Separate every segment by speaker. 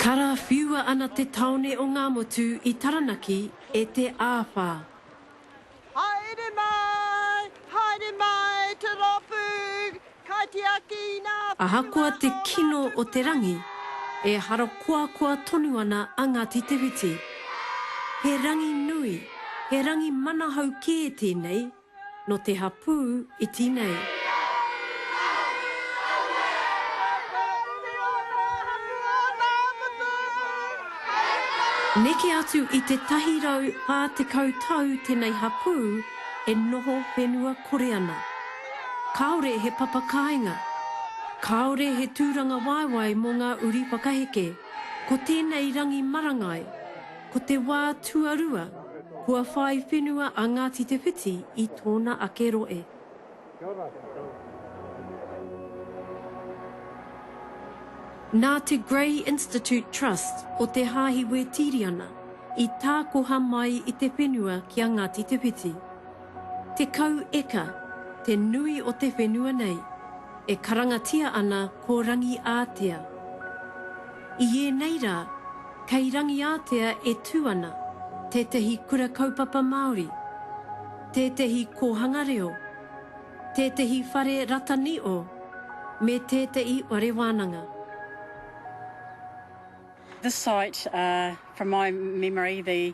Speaker 1: Karawhiua ana te taone o Ngamotu i Taranaki e te āwha. Haere
Speaker 2: mai, haere mai te rōpū kaitiaki ina whiua. Ahakoa te kino
Speaker 1: o te rangi, e harakoakoa tonu ana a Ngāti Te Whiti. He rangi nui, he rangi manahau kē tēnei No te hapū iti nei. Neke atu i te tahi rau pā tekau tau tenei hapū e noho whenua kore ana. Kāore he papa kāinga. Kāore he tūrangawaewae mō ngā uri whakaheke. Ko tēnei rangi marangai. Ko te wā tuarua, kua whai whenua a Ngāti Te Whiti i tōna ake rohe. Nā te Grey Institute Trust o Te Haahi Wētīriana i tākoha mai i te whenua ki a Ngāti Te Whiti. Tekau eka te nui o te whenua nei, e karangatia ana ko Rangiātea. I ēnei rā, kei Rangiātea e tū ana tētahi Kura Kaupapa Māori, tētahi Kōhanga Reo, tētahi Whare Rataniʻo me tētaʻi Whare Wānanga.
Speaker 3: This site, from my memory, the.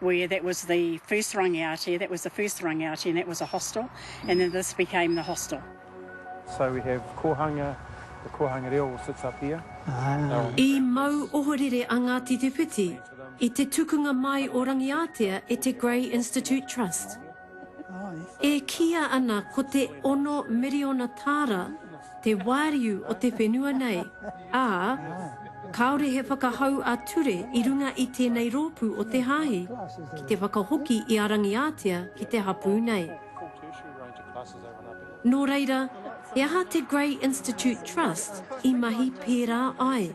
Speaker 3: where that was the first rangiati, that was the first rangiati and that was a hostel and then this became the hostel. So we
Speaker 4: have Kohanga, the Kohanga reo sits up here. Ah. I
Speaker 1: mau ohorere a Ngāti Te Whiti i te tukunga mai o Rangiātea e te Grey Institute Trust. E kīia ana ko te ono miriona tāra te wāriu o te whenua nei, ā, kāore he whakahau ā-ture i runga i tēnei rōpū o te Hāhi ki te whakahoki i a Rangiātea ki te hapū nei. Nō reira, he aha te Grey Institute Trust i mahi pērā ai?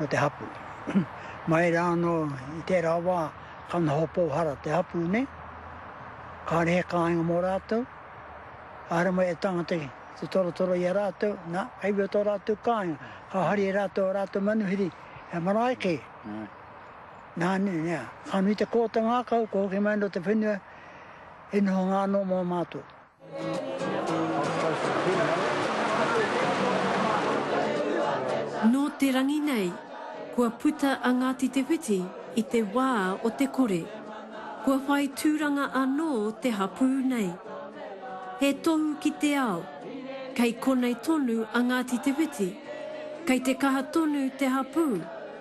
Speaker 5: o te hapū. Mai rā anō i tērā wā ka noho pōhara te hapū nei, kāre he kāinga mō rātou, āre mai e tangata te torotoro i a rātou, nā, hei wea tō rātou kāinga, ka hari e rātou a rātou manuhiri, he marae kē. Nā, nē, nē, ka nui te kōta ngākau, ka hoki mai anō te whenua, he noho ngā anō mō mātou.
Speaker 1: Nō te rangi nei, kua puta a Ngāti Te Whiti i te wā o te kore. Kua whai tūranga anō te hapū nei. He tohu ki te ao, kei konei tonu a Ngāti Te Whiti, kei te kaha tonu te hapū.